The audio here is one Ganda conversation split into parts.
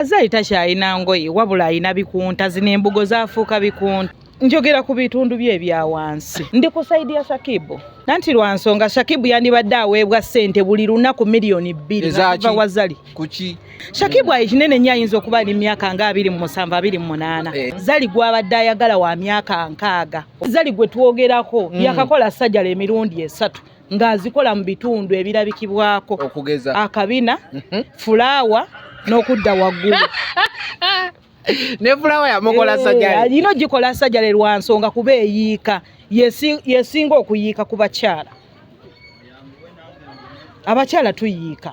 Zari takyalina ngoye wabula alina bikunta zino embugo zafuuka bikunta njogera ku bitundu bye ebya wansi ndi ku saidi ya shakibu nanti lwa nsonga shakibu yandibadde aweebwa sente buli lunaku miliyoni bbiri nakiva wazali kuki shakibu ayi kinene nnyo ayinza okuba ali myaka nga abiri mu musanvu abiri mu munaana eh. zali gwabadde ayagala wa myaka nkaaga zali gwe twogerako mm. yakakola sajala emirundi esatu ng'azikola mu bitundu ebirabikibwako okugeza akabina mhm. fulaawa n'okudda waggulu ne fulaawa yamukola eh, sajale alina ogikola sajale lwa nsonga kuba eyiika yesinga okuyiika ku bakyala abakyala tuyiika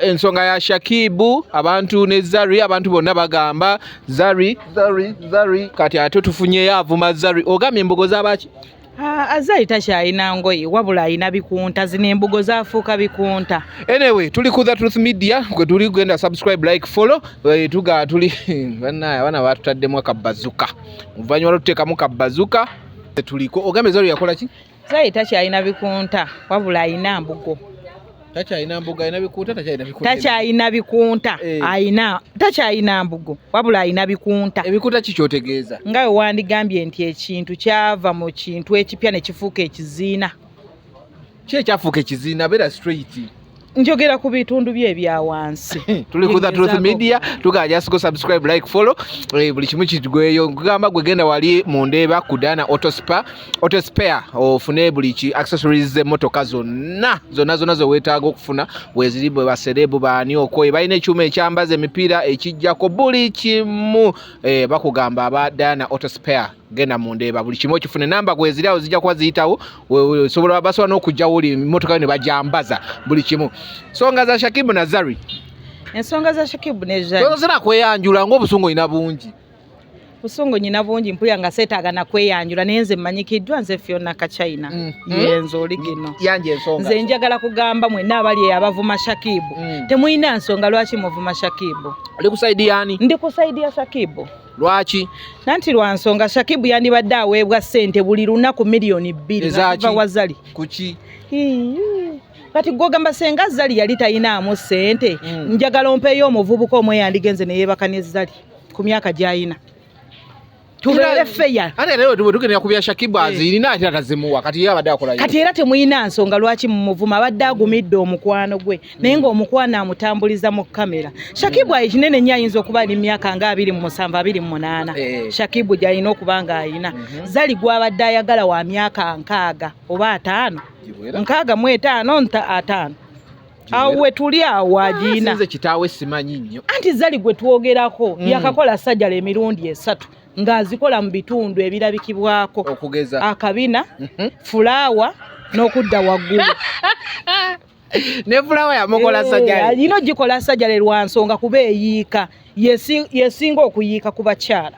ensonga ya shakibu abantu ne zari abantu bonna bagamba zari zari zari kati ate tufunyeyo avuma zari ogambye embogo zabaki ah, azari takyalina ngoye wabula alina bikunta zino embugo zafuuka bikunta anyway tuli ku the truth media gwe tuli genda subscribe like follow eh, tuga tuli banaye abaana batutaddemu akabazuka oluvannyuma lwatuteekamu kabazuka tuliko ogambye zari yakola ki Zayi takyalina bikunta wabula alina mbugo. Takyalina mbugo alina bikunta takyalina bikunta. Takyalina bikunta eh. alina takyalina mbugo wabula alina bikunta. Ebikunta ki kyotegeeza? Nga we wandigambye nti ekintu kyava mu kintu ekipya ne kifuuka ekiziina. Ki ekyafuuka ekiziina beera straight. njogera ku bitundu bye ebya wansi tuli ku the truth media tuga just go subscribe like follow eh, buli kimu kitugweyo nkugamba gwe genda wali mu ndeeba ku dana auto spa auto spare ofune buli ki accessories ze motoka zonna zonna zonna zo wetaaga okufuna weziri bwe baserebu baani okoye balina ekyuma ekyambaza emipiira ekijjako buli kimu eh, bakugamba aba dana auto spare genda mu ndeeba buli kimu okifune namba gweziri awo zijja kuba ziyitawo osobola basobola n'okugjawo oli mmotoka yo ne bajambaza buli kimu songa za shakibu nazari ensonga za shakibu nezozera kweyanjula ngaobusungu olina bungi busungu nyina bungi mpulira nga seetaaga nakweyanjula naye nze mmanyikiddwa nze fyona kachina mm. mm. yenze oli gino nze njagala kugamba mwena abali abavuma shakibu mm. temulina nsonga lwaki muvuma shakibu ndi ku saidi ya shakibu lwaki nanti lwa nsonga shakibu yandibadde aweebwa ssente buli lunaku miliyoni bbiri ava wazali kuki kati gwogamba senga zali yali talinaamu ssente hmm. njagala ompeeyo omuvubuka omwe yandigenze neyeebaka ne zali ku myaka gyayina tubeere feya ate era tugendera ku bya shakibu eh. azirina ate atazimuwa kati ye abadde akola kati era temulina nsonga lwaki mumuvuma abadde agumidde omukwano gwe naye nga omukwano amutambuliza mu kamera shakibu ayi kinene nnyo ayinza okuba ali myaka nga abiri mu musanvu abiri mu munaana eh. shakibu gyalina okuba nga alina mhm. zali gwabadde ayagala wa myaka nkaaga oba ataano nkaaga mu etaano nta ataano awo wetuli awo agiina ah, kitaawe simanyi nnyo anti zali gwe twogerako mm. yakakola sajala emirundi esatu ng'azikola mu bitundu ebirabikibwako okugeza akabina mhm. fulaawa n'okudda waggulu ne fulawa yamukola eh, sajale alina ogikola sajale lwa nsonga kuba eyiika yesinga okuyiika ku bakyala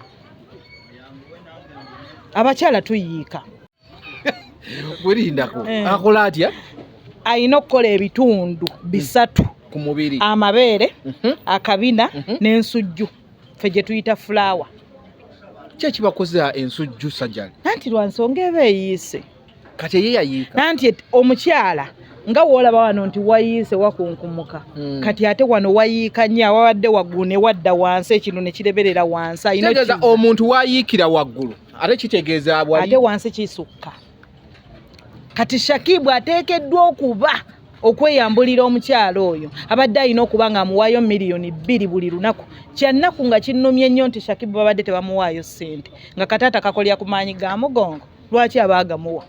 abakyala tuyiika werindako eh. akola atya alina okukola ebitundu bisatu ku mubiri amabeere mhm. akabina mhm. n'ensujju fe gye tuyita fulawa kyekibakoza ensujju sajale anti lwa nsonga eba eyiise kati eye yayiika nanti omukyala nga woolaba wano nti wayiise wakunkumuka hmm. kati ate wano wayiika nyo awabadde waggulu ne wadda wansi ekino ne kireberera wansi ayinategeeza omuntu wayiikira waggulu ate kitegeeza bwa ate wansi kisukka kati shakibu ateekeddwa okuba okweyambulira omukyalo oyo abadde alina okuba nga amuwaayo miliyoni bbiri buli lunaku kyannaku nga kinnumye nnyo nti shakibu babadde tebamuwaayo ssente nga kataata kakolera ku maanyi ga mugongo lwaki aba agamuwa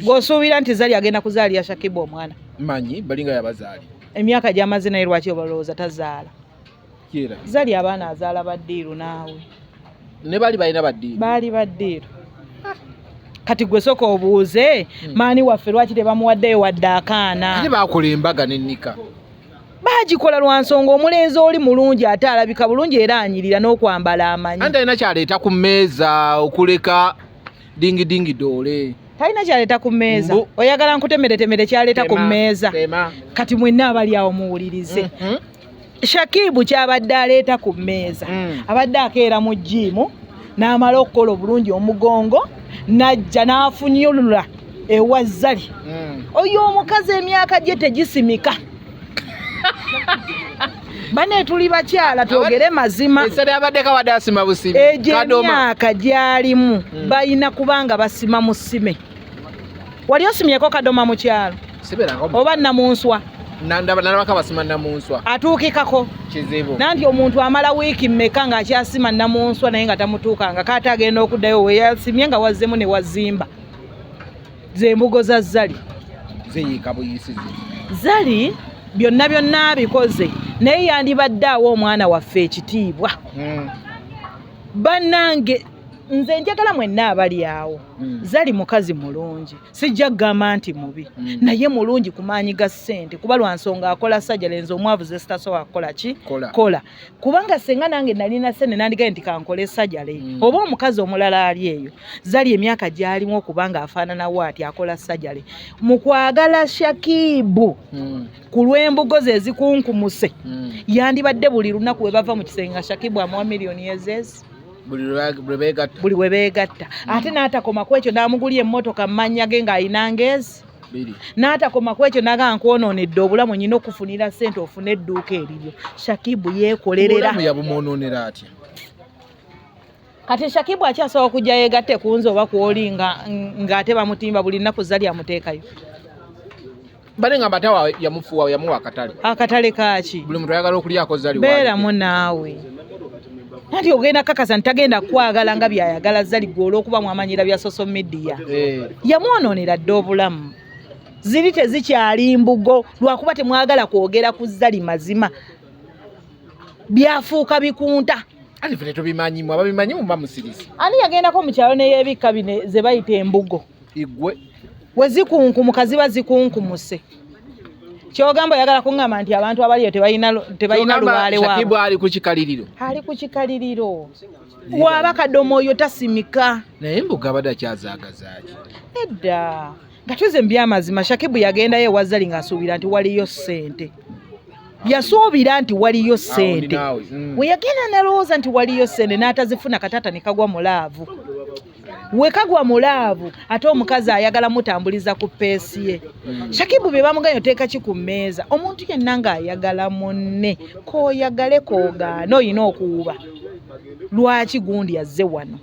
gwosuubira nti zali agenda kuzaalira shakibu omwana manyi balinga yabazaali emyaka gyamaze naye lwaki obalowooza tazaala zali abaana azaala baddiiru naawe ne baali balina baddiiru baali baddiiru kati gwe soka obuuze hmm. maani waffe lwaki tebamuwaddeyo wadde akaana bakola embaga nenika bagikola lwa nsonga omulenzi oli mulungi ate alabika bulungi era anyirira n'okwambala amanyi ante alina kyaleeta ku mmeeza okuleka dingidingi doole talina kyaleeta ku mmeeza oyagala nkutemeretemere kyaleeta ku mmeeza kati mwenna abali awo muwulirize mm-hmm. shakibu kyabadde aleeta ku mmeeza mm. abadde akeera mu jiimu n'amala okukola obulungi omugongo n'ajja n'afunyulula ewa zali hmm. oyo omukazi emyaka gye tegisimika bane tuli bakyala twogere mazima egyo emyaka gyalimu hmm. balina kubanga basima mu sime wali osimyeko kadoma mu kyalo oba namunswa nalabako abasima namunswa atuukikako kizibu nanti omuntu amala wiiki mmeka ng'akyasima namunswa naye nga tamutuukanga kaate agenda okuddayo weyasimye nga wazzemu ne wazimba zembugo za zali zeyiika buyisizi zali byonna byonna abikoze naye yandibadde awo omwana waffe ekitiibwa hmm. bannange mm. nze njagala mwenna abali awo mm. zali mukazi mulungi sijja kugamba nti mubi mm. naye mulungi ku maanyi ga ssente kuba lwa nsonga akola sajja lenze omwavu ze sitasobola kukola ki kola kubanga senga nange nalina sente nandigaye nti kankole sajja le mm. oba omukazi omulala ali eyo zali emyaka gyalimu okubanga afaananawo ati akola sajja le mu kwagala shakibu mm. ku lw'embugo ze ezikunkumuse mm. yandibadde buli lunaku we bava mu kisenge nga shakibu amuwa miliyoni ezezi buli bwe beegatta mm. ate n'atakoma ku ekyo n'amugulya emmotoka mu mannya ge ng'alina ngeezi n'atakoma ku ekyo naga nkwonoonedde obulamu nyina okufunira ssente ofune edduuka eriryo shakibu yeekolerera yabumwonoonera atya kati shakibu akyasobola okujja yeegatte ku nze oba kwoli ng'ate bamutimba buli nnaku zza lyamuteekayo bale nga batawa yamufuwa yamuwa akatale akatale kaaki buli muntu ayagala okulyako zali beeramu naawe nati ogenda kakasa ntagenda kwagala nga byayagala zali gwe olwokuba mwamanyira bya social media eh. yamwonoonera dda obulamu ziri tezikyali mbugo lwakuba temwagala kwogera ku zali mazima byafuuka bikunta ani yagendako mu kyalo neyebikka bine zebayita embugo igwe we zikunkumuka ziba zikunkumuse kyogamba oyagala kuŋŋamba nti abantu abaliyo tebalina lubaale waabwe ali ku kikaliriro ali ku kikaliriro waaba kadomo oyo tasimika naye mbuga abadde akyazaagazaki edda nga tuze mu byamazima shakibu yagendayo ewazali ng'asuubira nti waliyo ssente yasuubira nti waliyo ssente mm. we yagenda nalowooza nti waliyo ssente n'atazifuna kataata ne kagwa mu laavu wekagwa mulaavu ate omukazi ayagala mutambuliza ku peesi ye mm. shakibu bye bamuganyo teeka ki ku mmeeza omuntu yenna ng'ayagala munne kooyagale koogaana olina okuwuba lwaki gundi azze wano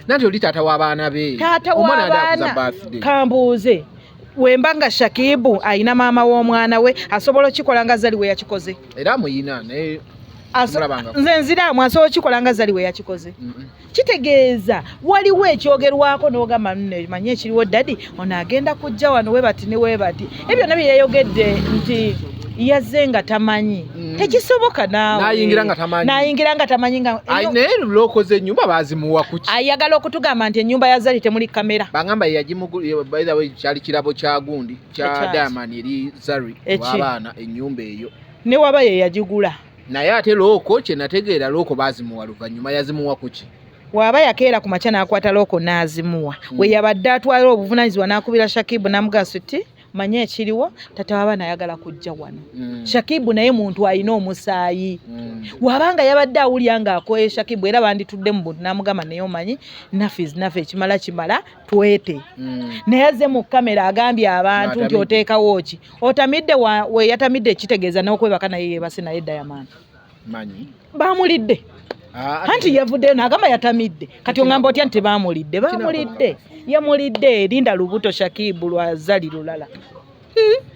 nanti oli taata w'abaana be taata w'abaana kambuuze wemba nga shakibu ayina maama w'omwana we asobola okikola nga zali we yakikoze era muyina naye nze nziraamu asobola okikola nga zali we yakikoze kitegeeza waliwo ekyogerwako n'ogamba nno manye ekiriwo dadi ono agenda kujja wano webati ne webati ebyo byonna bye yayogedde nti yaze nga tamanyi mm. tekisoboka nawenayingira nga tamanyi naye lokoze enyumba bazimuwa kuki ayagala okutugamba nti enyumba ya zari temuli kamera bagamba yagimukyali kirabo kya gundi kya diamond eri zari wabaana enyumba eyo newaba yeyagigula naye ate looko kyenategeera looko bazimuwa luvannyuma yazimuwa kuki waaba yakeera ku makya n'akwata looko n'azimuwa hmm. we yabadde atwala obuvunanyizibwa n'akubira shakibu namugaso ti manye ekiriwo tata wabaana ayagala kujja wano hmm. shakibu naye muntu alina omusaayi hmm. wabanga yabadde awulya nga akoye shakibu era banditudde mu buntu namugamba naye omanyi nafe nafe ekimala kimala twete naye aze mu kamera agambye abantu nti oteekawo ki otamidde weyatamidde kitegeeza n'okwebaka naye yebase naye diamond manyi baamulidde ah, anti yavuddeyo nagamba yatamidde kati ongamba otya nti baamulidde baamulidde yamulidde linda lubuto shakibu lwazali lulala hmm?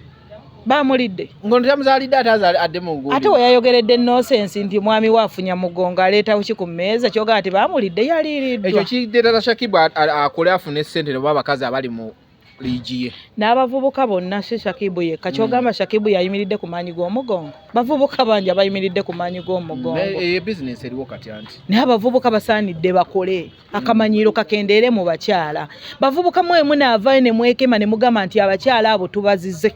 baamulidde ngontyamuzalidde ate adde mugu ate weyayogeredde nosensi nti omwami we afunya mugongo aleetawo ki ku mmeeza kyogaa nti baamulidde yaliiriddwa ekyo kideetata shakibu akole afune ssente noba abakazi abali mu liigi ye n'abavubuka bonna si shakibu yekka hmm. kyogamba shakibu yayimiridde ku maanyi g'omugongo bavubuka bangi abayimiridde ku maanyi g'omugongo eyo bizinesi eriwo kati anti naye abavubuka basaanidde bakole akamanyiiro kakendeere mu bakyala bavubuka mwemu naavayo ne mwekema ne mugamba nti abakyala abo tubazize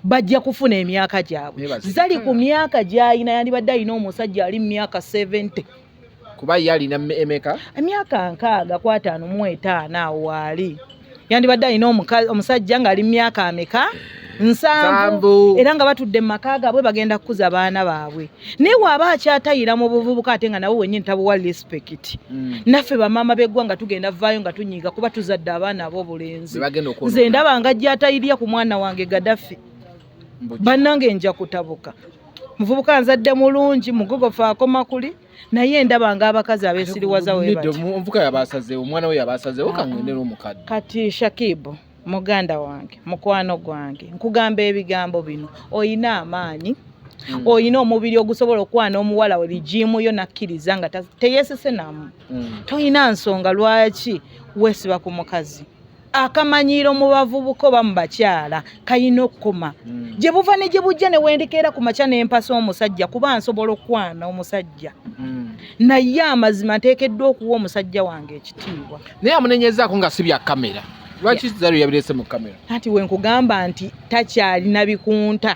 bajja kufuna emyaka gyabwe zali ku myaka gy'alina yandibadde alina omusajja ali mu myaka 70 kuba ye alina emeka emyaka nkaaga ku ataano mu etaano awo waali yandibadde alina omusajja ng'ali mu myaka ameka nsanvu era nga batudde mu maka gaabwe bagenda kukuza baana baabwe naye waaba akyatayira mu buvubuka ate nga nawe wenyini tabuwa respect mm. naffe bamaama beggwanga tugenda vaayo nga tunyiiga kuba tuzadde abaana abo obulenzi nze ndaba nga gyatayirya ku mwana wange gadafi bannange nja kutabuka muvubuka nzadde mulungi mugubofu akoma kuli naye ndaba nga abakazi abesiriwaza wemuvuka yabasazewo omwana we yabasazewo kangendera omukadde kati shakibu muganda wange mukwano gwange nkugamba ebigambo bino oyina amaanyi mm. oyina omubiri ogusobola okwana omuwala we bijiimu yo nakkiriza nga teyesesenamu mm. toyina nsonga lwaki wesiba ku mukazi akamanyiiro mu bavubuka oba mu bakyala kalina okukoma hmm. gye buva ne gye bujja ne wendikeera ku makya ne mpasa omusajja kuba nsobola okukwana omusajja hmm. naye amazima nteekeddwa okuwa omusajja wange ekitiibwa naye amunenyezaako nga si bya kamera lwaki zaro yabirese mu kamera anti wenkugamba nti takyalina bikunta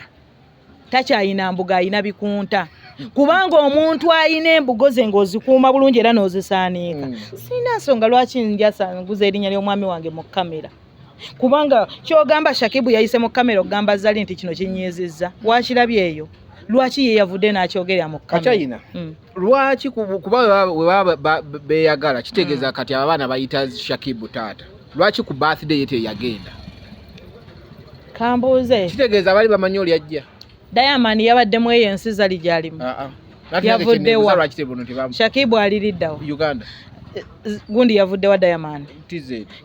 takyayina mbuga ayina bikunta kubanga omuntu ayina embugo ze ng'ozikuuma bulungi era n'ozisaaniika mm. sirina nsonga lwaki njasanguza erinnya ly'omwami wange mu kamera kubanga kyogamba shakibu yayise mu kamera okugamba zali nti kino kinyiizizza wakirabyeyo lwaki ye yavudde n'akyogerera mu kamera lwaki kuba webaba beyagala kitegeeza mm. kati abo abaana bayita shakibu taata lwaki ku birthday yete yagenda kambuuze kitegeeza abali bamanyi oli ajja diamond yabadde mu eyo ensi zali gyalimu ah, ah. yavuddewa shakibu aliriddawo uganda eh, gundi yavuddewa diamond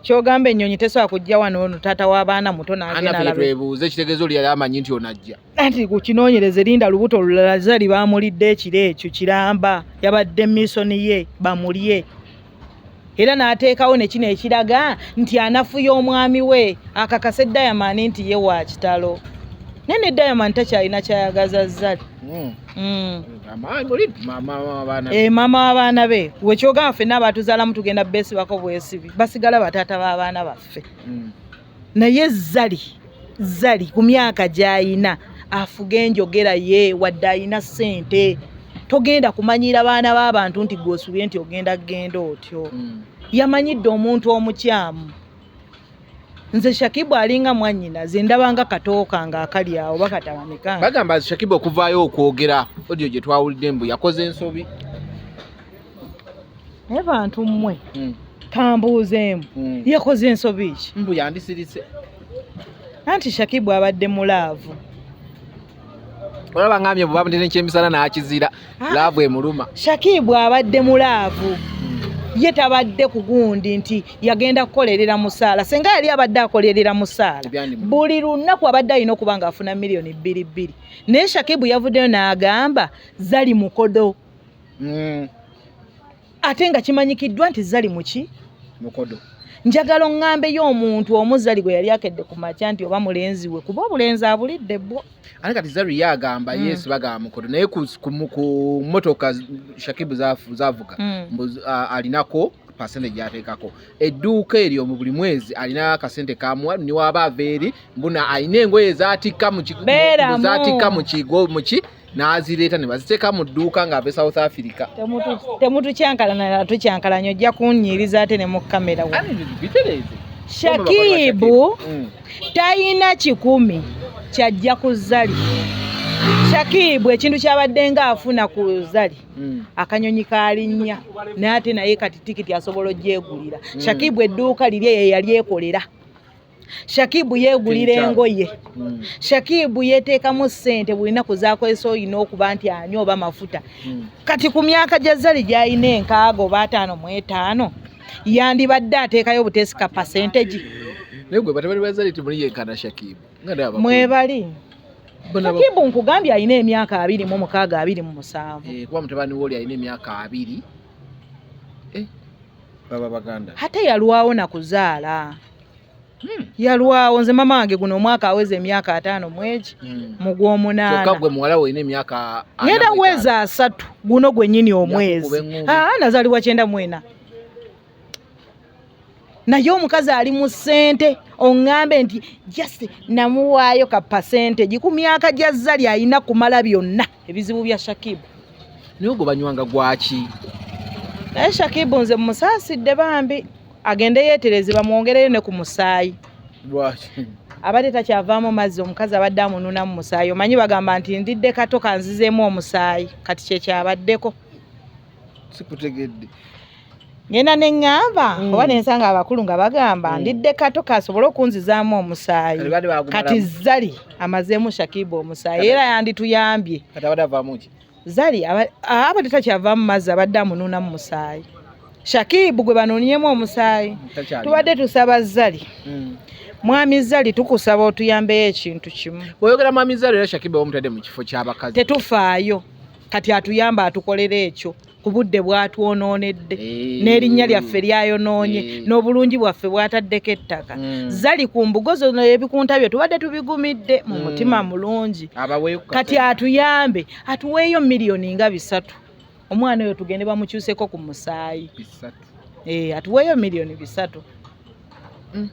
kyogamba ennyonyi tesobola kujja wano ono taata w'abaana muto nagenalaebuuze kitegeeza oli yali amanyi nti onajja anti ku kinoonyereze linda lubuto olulala zali baamulidde ekiro ekyo kiramba yabadde misoni ye bamulye era n'ateekawo ne kino ekiraga nti anafuya omwami we akakase dayamani nti ye wa kitalo naye ne dayamani takyalina kyayagaza zali hmm. hmm. eh, maama w'abaana be wekyogamba fenna abaatuzaalamu tugenda beesibako bwesibi basigala bataata b'abaana baffe hmm. naye zali zali ku myaka gy'alina afuga enjogera ye wadde alina ssente togenda kumanyira baana b'abantu nti gw'osubye nti ogenda kugenda otyo hmm. yamanyidde omuntu omukyamu nze shakibu alinga mwanyina ze ndabanga katooka nga akali awo bakatabanekanga bagamba shakibu okuvaayo okwogera odio gye twawulidde mbu yakoze ensobi naye bantu mmwe hmm. kambuuzeemu hmm. yakoze ensobi ki mbu yandisirise anti shakibu abadde mu laavu olaba ngambye bubabudde nekyemisana nakizira ah. laavu emuluma shakibu abadde mu laavu ye tabadde ku gundi nti yagenda kukolerera musaala senga yali abadde akolerera musaala buli lunaku abadde alina okuba nga afuna miliyoni bbiri bbiri naye shakibu yavuddeyo n'agamba zali mukodo mm. ate nga kimanyikiddwa nti zali muki mukodo njagala oŋŋambeyo omuntu omuzali gwe yali akedde ku makya nti oba mulenzi we kuba obulenzi abulidde bwo ate kati zaru ye agamba mm. yesu bagamba mukodo naye ku mmotoka shakibu zavuga mm. alinako pasente gyateekako edduuka eryo mu buli mwezi alina akasente kamuwa niwaaba ava eri mbuna alina engoye zatikka mu kigo muki n'azireeta ne baziteeka mu dduuka ng'ave south africa temutukyankalanala tukyankalanya ojja kunnyiriza ate ne mu kamera bitereeze shakibu mm. tayina kikumi kyajja ku zali shakibu ekintu kyabadde nga afuna ku zali mm. akanyonyi kalinnya naye ate naye kati tikiti asobola ogyegulira mm. shakibu edduuka liri eyo yali ekolera shakibu yegulira engoye hmm. shakibu yeteekamu ssente buli naku zakozesa olina okuba nti anyo oba mafuta hmm. kati ku myaka gya zali gyalina enkaaga oba ataano mu etaano yandibadde ateekayo butesika pasentegi mwebali shakibu nkugambye alina emyaka abiri mu mukaaga abiri mu musanvu eh, kuba mutabani woli alina emyaka abiri eh, baba baganda ate yalwawo nakuzaala Hmm. yalwawo nze mama wange guno omwaka aweza emyaka ataano mwegi hmm. mugwomunaanagenda weza asatu guno gwenyini omwezi ah, nazalibwa kyenda mwena naye omukazi ali mu ssente oŋŋambe nti just namuwaayo ka pasente giku myaka gya zali alina kumala byonna ebizibu bya Shakib naye ogwo banywanga gwaki naye Shakib nze mumusaasidde bambi agende yeetereze bamwongereyo ne ku musaayi lwaki abadde takyavaamu mazzi omukazi abadde amununamu musaayi omanyi bagamba nti ndidde kato kanzizeemu omusaayi kati kyekyabaddeko sikutegedde ngenda ne ŋŋamba mm. oba ne nsanga abakulu nga bagamba mm. ndidde kato kasobole okunzizaamu omusaayi kati zali amazeemu shakiba omusaayi era yandituyambye zali abadde takyavaamu mazzi abadde amunuuna mu musaayi shakibu gwe banoonyemu omusaayi tubadde tusaba zali mm. mwami zali tukusaba otuyambeyo ekintu kimu oyogera mwami zali era shakiba omutadde mu kifo ky'abakazi tetufaayo kati atuyamba atukolera ekyo obudde bwatwonoonedde eh. n'erinnya lyaffe lyayonoonye eh. n'obulungi bwaffe bwataddeko ettaka hmm. zali ku mbugo zona ebikunta bye tubadde tubigumidde mu hmm. mutima mulungi kati atuyambe atuweeyo miliyoni nga bisatu omwana oyo tugende bamukyuseko ku musaayi eh, atuweeyo miliyoni bisatu hmm.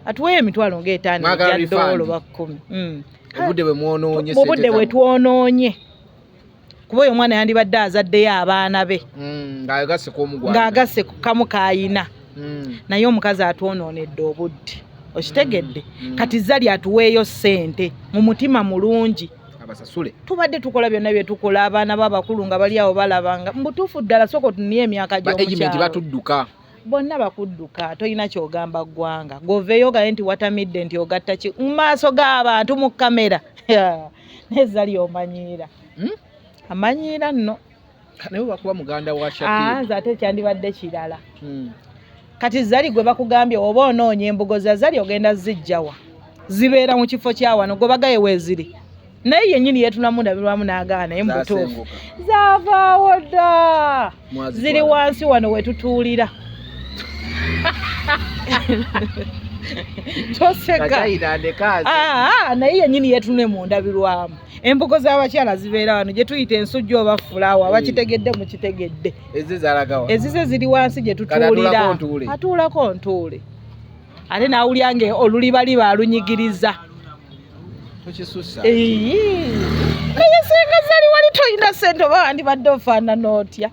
atuweeyo emitwalo ngaetaano gyadoolo bakkumi obudde bwe twonoonye kuba oyo omwana yandibadde azaddeyo abaana be mm, ng'agasse ku kamu kaayina mm. naye omukazi atwonoonedde obudde okitegedde mm, kati zali atuweeyo ssente mu mutima mulungi abasasule tubadde tukola byonna byetukola abaana babakulu nga bali awo balabanga mubutuufu ddala sooka otunie emyaka gy'omukyalo batudduka bonna bakudduka tolina kyogamba ggwanga goveeyo ogaye nti watamidde nti ogatta ki mu maaso g'abantu mu kamera naye zali omanyiira hmm? amanyiira nno naye wakuba muganda wa ah, nze ate kyandibadde kirala hmm. kati zali gwe bakugambye oba onoonya embugo za zali ogenda zijjawa zibeera mu kifo kyawano gwebagaye weeziri naye yennyini yeetulamu ndabirwamu n'agaana naye mubutuufu zaavaawo dda ziri wansi wano we tutuulira toseka ah, ah, naye yennyini yeetulune mu ndabirwamu embugo z'abakyala zibeera wano gye tuyita ensujju oba fulaawa bakitegedde hmm. mukitegedde ezize ziri wansi gye tutuulira atuulako ntuule ate nawulya nga olulibaliba alunyigiriza naye senga zali wali toyina sente oba wandibadde ofaanana otya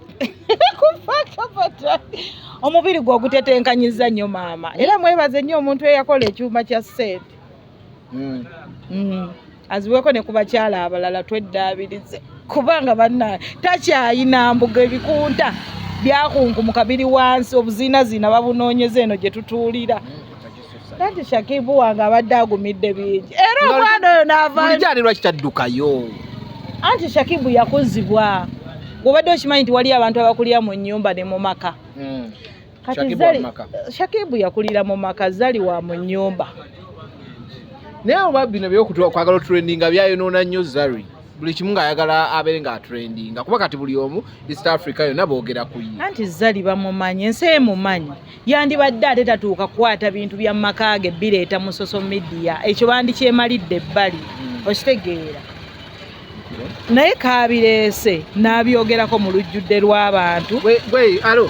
omubiri gwe ogutetenkanyiza nnyo maama era mwebaze nnyo omuntu eyakola ekyuma kya sente hmm. Hmm. aziweko ne ku bakyala abalala tweddaabirize kubanga banna takyayina mbuga ebikunta byakunkumuka biri wansi obuziinaziina babunoonyeza eno gye tutuulira anti shakibu wange abadde agumidde bingi era omwana oyo navajalirwa kitaddukayo anti shakibu yakuzibwa obadde okimanyi nti waliyo abantu abakulya mu nyumba ne mu maka hmm. kati zali shakibu yakulira mu maka zali wa mu nyumba naye oba bino byokutuwa kwagala otrendinga byayonoona nnyo zari buli kimu ng'ayagala abeere nga atrendinga kuba kati buli omu east africa yonna boogera ku ye anti zali bamumanyi ensi emumanyi yandibadde ate tatuuka kukwata bintu bya maka ge bireeta mu social media ekyo bandikyemalidde ebbali hmm. okitegeera naye kabireese n'abyogerako mu lujjudde lw'abantu gwe alo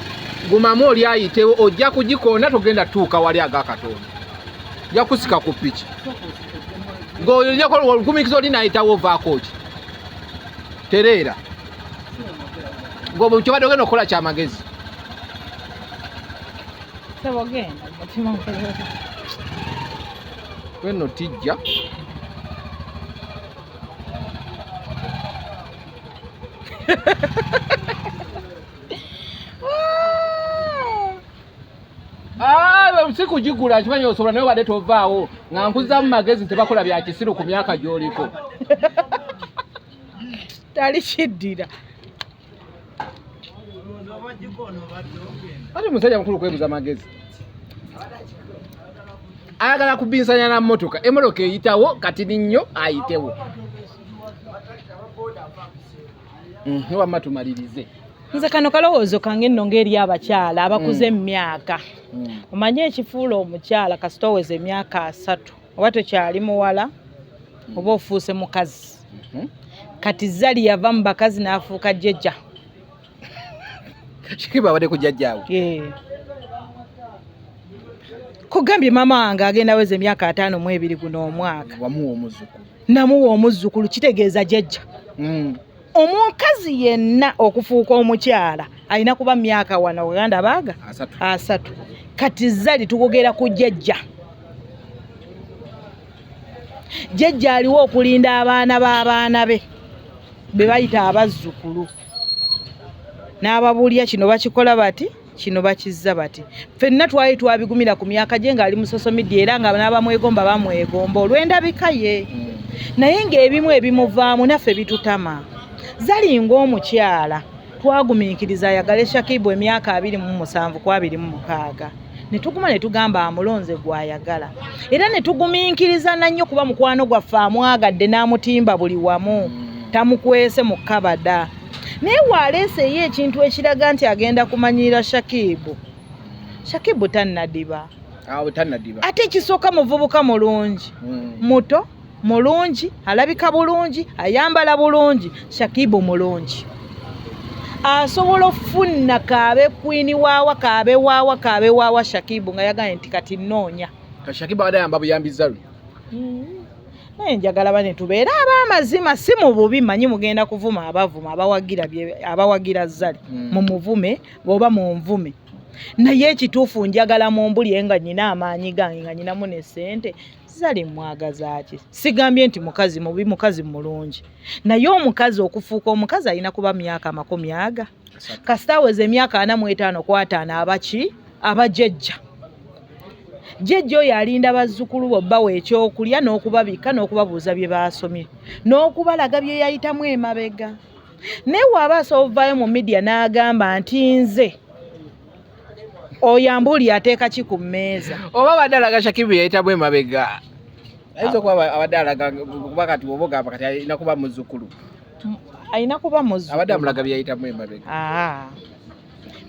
gumamu oli ayitewo ojja kugikoona togenda tuuka wali aga katonda ja kusika ku piki ng'oyo ojjako olugumikiza oli nayitawo ovaako ki tereera ng'obwe kyobadde ogenda okukola kyamagezi wenno tijja si kugigula nkimanyi osobola naye obadde tovaawo nga nkuzamu magezi nti bakola bya kisiru ku myaka gy'oliko tali kiddira ate musajja mukulu kwebuza magezi ayagala kubinsanya na motoka emotoka eyitawo kati ninnyo ayitewo mhm, wamma tumalirize nze kano kalowoozo kange nno ng'eri abakyala abakuze mm. mu myaka mm. omanyi ekifuula omukyala kasita oweza emyaka asatu oba tokyali muwala oba ofuuse mukazi mhm. kati zali yava mu bakazi n'afuuka jjajja kikiba abadde ku jjajjaawe kugambye maama wange agenda weza emyaka ataano mu ebiri guno omwaka wamuwa omuzukulu namuwa omuzzukulu kitegeeza jjajja mm. omukazi yenna okufuuka omukyala alina kuba myaka wana oganda baaga asatu kati zali tukugera ku jjajja jjajja aliwo okulinda abaana b'abaana be be bayita abazzukulu n'ababuulira kino bakikola bati kino bakizza bati fenna twali twabigumira ku myaka gye ng'ali mu social media era nga n'abamwegomba bamwegomba olw'endabika ye mm. naye ng'ebimu ebimuvaamu naffe bitutama zali ng'omukyala twagumiikiriza ayagale shakibu emyaka abiri mu musanvu ku abiri mu mukaaga ne tuguma ne tugamba amulonze gw'ayagala era ne tugumiikiriza nannyo kuba mukwano gwaffe amwagadde n'amutimba buli wamu mm. tamukwese mu kabada naye waaleese ye ekintu ekiraga nti agenda kumanyiira shakibu shakibu tannadiba ate ekisooka muvubuka mulungi hmm. muto mulungi alabika bulungi ayambala bulungi shakibu mulungi asobola okufunna kaabe kwini waawa kaabe waawa kaabe waawa shakibu nga yagambye nti kati nnoonya shakibu adayamba buyambi zalu hmm. naye njagala bane tubeere ab'amazima si mu bubi manyi mugenda kuvuma abavuma abawagira abawagira zali hmm. mu muvume oba mu nvume naye ekituufu njagala mu mbulye nga nyina amaanyi gange nga nyinamu ne ssente zali mwagazaaki sigambye nti mukazi mubi mukazi mulungi naye omukazi okufuuka omukazi alina kuba myaka amakumi aga kasita aweza emyaka ana mu etaano ku ataano abaki abajejja jejja oyo alinda bazzukulu bo bbawa ekyokulya n'okubabikka n'okubabuuza bye baasomye n'okubalaga bye yayitamu emabega naye waaba asobola ovaayo mu midiya n'agamba nti nze oyambuuli ateeka ki ku mmeeza oba abadde alaga shakibu yayitamu emabega ayinza okuba abadde alaga kuba kati oba ogamba kati alina kuba muzzukulu alina kuba muzzukulu abadde amulaga byeyayitamu emabega ah.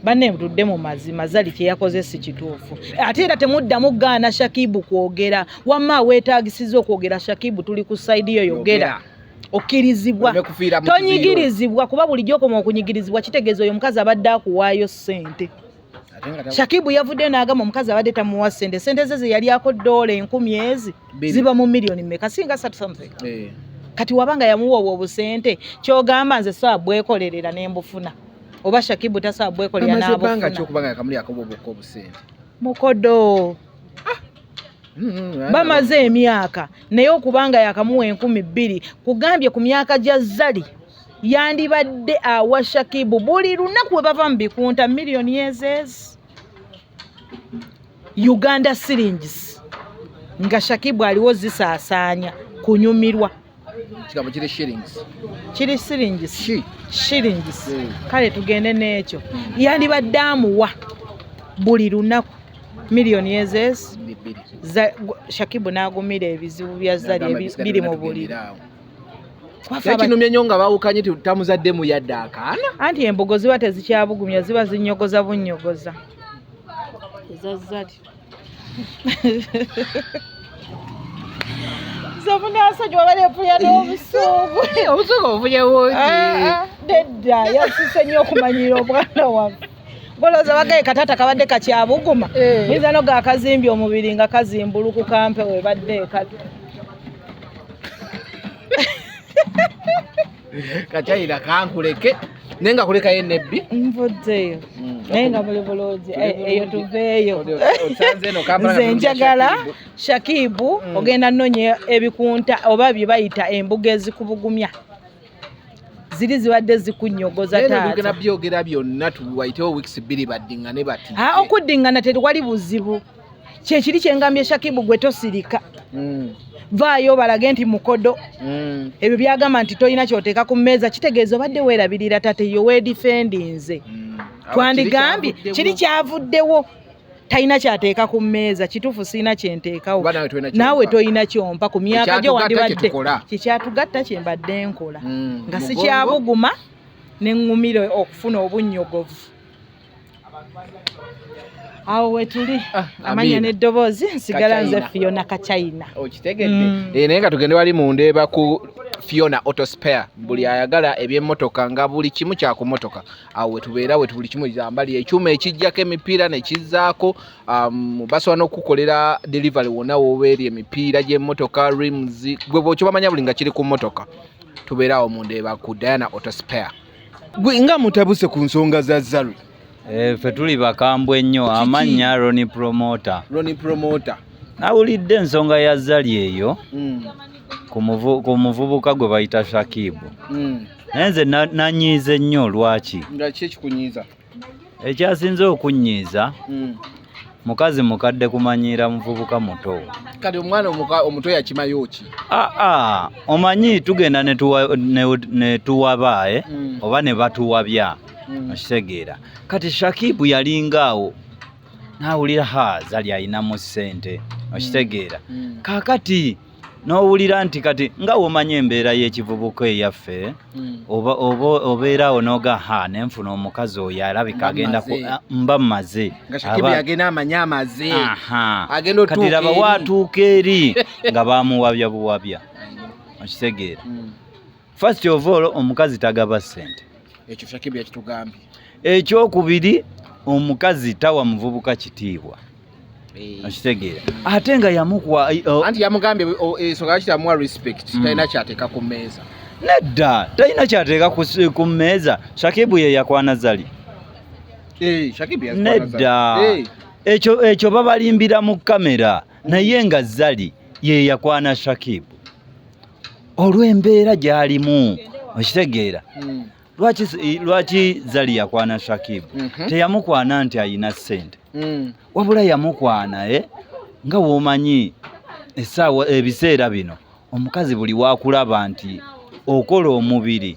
banne tudde mu mazima zali kyeyakoze si kituufu ate era temuddamu gaana shakibu kwogera wamma weetagisiza okwogera shakibu tuli ku saidi yo yogera okkirizibwa tonyigirizibwa kuba bulijjo okoma okunyigirizibwa kitegeeza oyo omukazi abadde akuwaayo ssente shakibu yavudde n'agamba omukazi abadde tamuwa sente sente ze zeyali ako doola enkumi ezi ziba mu miliyoni meka singa satu something eh. kati wabanga yamuwa obwo obusente kyogamba nze saa bwekolerera ne mbufuna oba shakibu tasaa bwekolera n'abufuna mukodo Mm-hmm. bamaze emyaka naye okubanga yakamuwa enkumi bbiri kugambye ku myaka gya zali yandibadde awa shakibu buli lunaku we bava mu bikunta miliyoni ezeezi uganda silingis nga shakibu aliwo zisaasaanya kunyumirwa kigambo kiri shillings kiri shillings shi shillings mm. kale tugende n'ekyo yandibadde amuwa buli lunaku miliyoni ezes shakibu n'agumira ebizibu bya zali biri mu buli yakinumye nnyo nga bawukanye tutamuzaddemu yadde akaana anti embogo ziba tezikyabugumya ziba zinyogoza bunyogoza zomunasonyi wabale epuya n'obusungu obusungu obuvunye bungi ah, ah, nedda yasise nnyo okumanyira obwana waffe goloza wagaye katata kabadde kakyabuguma eh. yinza no gakazimbye omubiri nga kazimbuluku kampe webadde ekatu kakyayira kankuleke naye nga kulekayo enebbi nvuddeyo mm. naye nga muli bulungi eh, eyo tuveeyo nze njagala shakibu mm. ogenda nonya ebikunta oba bye bayita embuga ezikubugumya ziri zibadde zikunyogoza taata byogera byonna tuwaitewo weeks bbiri baddingane bati ah, okuddingana teriwali buzibu kyekiri kyengambye shakibu gwe tosirika mm. vaayo balage nti mukodo mm. ebyo byagamba nti tolina kyoteeka ku mmeeza kitegeeza obadde weerabirira tate yowedifendinze mm. twandigambye kiri kyavuddewo talina kyateeka ku mmeeza kituufu sirina kyenteekawo naawe tolina kyompa ku myaka gyo wandibadde kyekyatugatta kyembadde nkola mm, nga sikyabuguma neŋŋumira okufuna obunnyogovu awo wetuli ah, amanya n'eddoboozi nsigala nze fiona kachina okitegedde mm. eh, naye nga tugende wali mundeeba ku fiona autospare buli ayagala ebyemmotoka nga buli kimu kyakumotoka awo wetubeera wetu buli kimu ambali ekyuma ekijjako emipiira nekizzaako um, basobola n'okukukolera delivery wonna wobeeri emipiira gy'emmotoka rims gwe bwokibamanya buli nga kiri ku mmotoka tubeeraawo mu ndeeba ku diana autospare gwe nga mutabuse ku nsonga za zaru eh, fe tuli bakambwe nnyo amannya roni promota roni promota nawulidde ensonga ya zali eyo mm. ku muvubuka gwe bayita shakibu mm. naye nze nanyiize nnyo lwaki nga ki ekikunyiiza ekyasinze okunyiiza hmm. mukazi mukadde kumanyiira muvubuka muto kati omwana omuto yakimayo ki aa ah, ah, omanyi tugenda netuwabaaye hmm. oba ne batuwabya hmm. okitegeera kati shakibu yalinga awo nawulira ha zali ayinamu ssente okitegeera kakati n'owulira nti kati nga womanya embeera y'ekivubuka eyaffe hmm. obeera awo noga ha nenfuna omukazi oyo alabika agenda ah, mba maze kati laba waatuuka eri nga bamuwabya buwabya okitegeera hmm. First of all omukazi tagaba sente. Ekyo Shakib yakitugambye. Ekyokubiri omukazi tawa muvubuka kitiibwa. Eh. Akitegeera. Ate nga yamukuwa eh, oh. anti yamugambye oh, eh, ensonga lwaki tamuwa respect mm. talina kyateeka ku mmeeza. Nedda talina kyateeka ku mmeeza. Shakibu ye yakwana zali. Eh, Shakibu yakwana zali. Nedda. Eh. Ekyo ekyo babalimbira mu kamera naye nga zali ye yakwana Shakibu. olw'embeera gy'alimu okitegeera hmm. lwaki lwaki zali yakwana shakib mhm. teyamukwana nti ayina sente hmm. wabula yamukwana e nga womanyi esaawa ebiseera bino omukazi buli wakulaba nti okola omubiri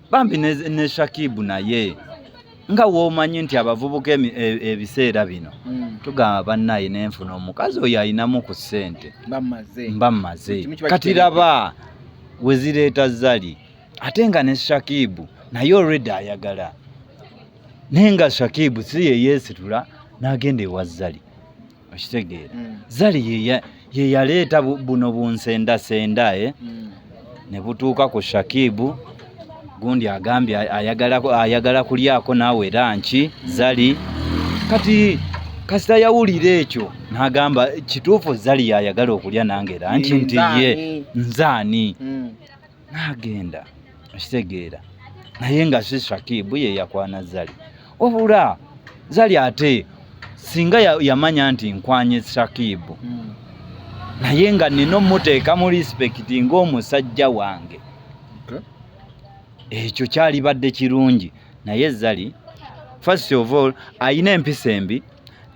bambi ne, ne shakibu naye nga womanyi nti abavubuka e, ebiseera bino mm. tugamba bannaye nenfuna omukazi oyo ayinamu ku ssente mba mmaze kati laba wezireeta zali ate nga ne shakibu naye olredi ayagala naye nga shakibu si yeyesitula n'agenda ewa zali okitegeera mm. zali yeyaleeta buno bunsendasenda e eh? mm. ne butuuka ku shakibu gundi agambye ayagala kulyako naawe era nki zali kati kasita yawulira ekyo nagamba kituufu zali yayagala okulya nange era nki nti ye nzaani mm. n'agenda okitegeera naye nga si shakibu ye yakwana zali wabula zali ate singa yamanya nti nkwanye shakibu hmm. naye nga nina omuteeka mu lispekiti ng'omusajja wange ekyo kyalibadde kirungi naye zali first of all ayina empisa embi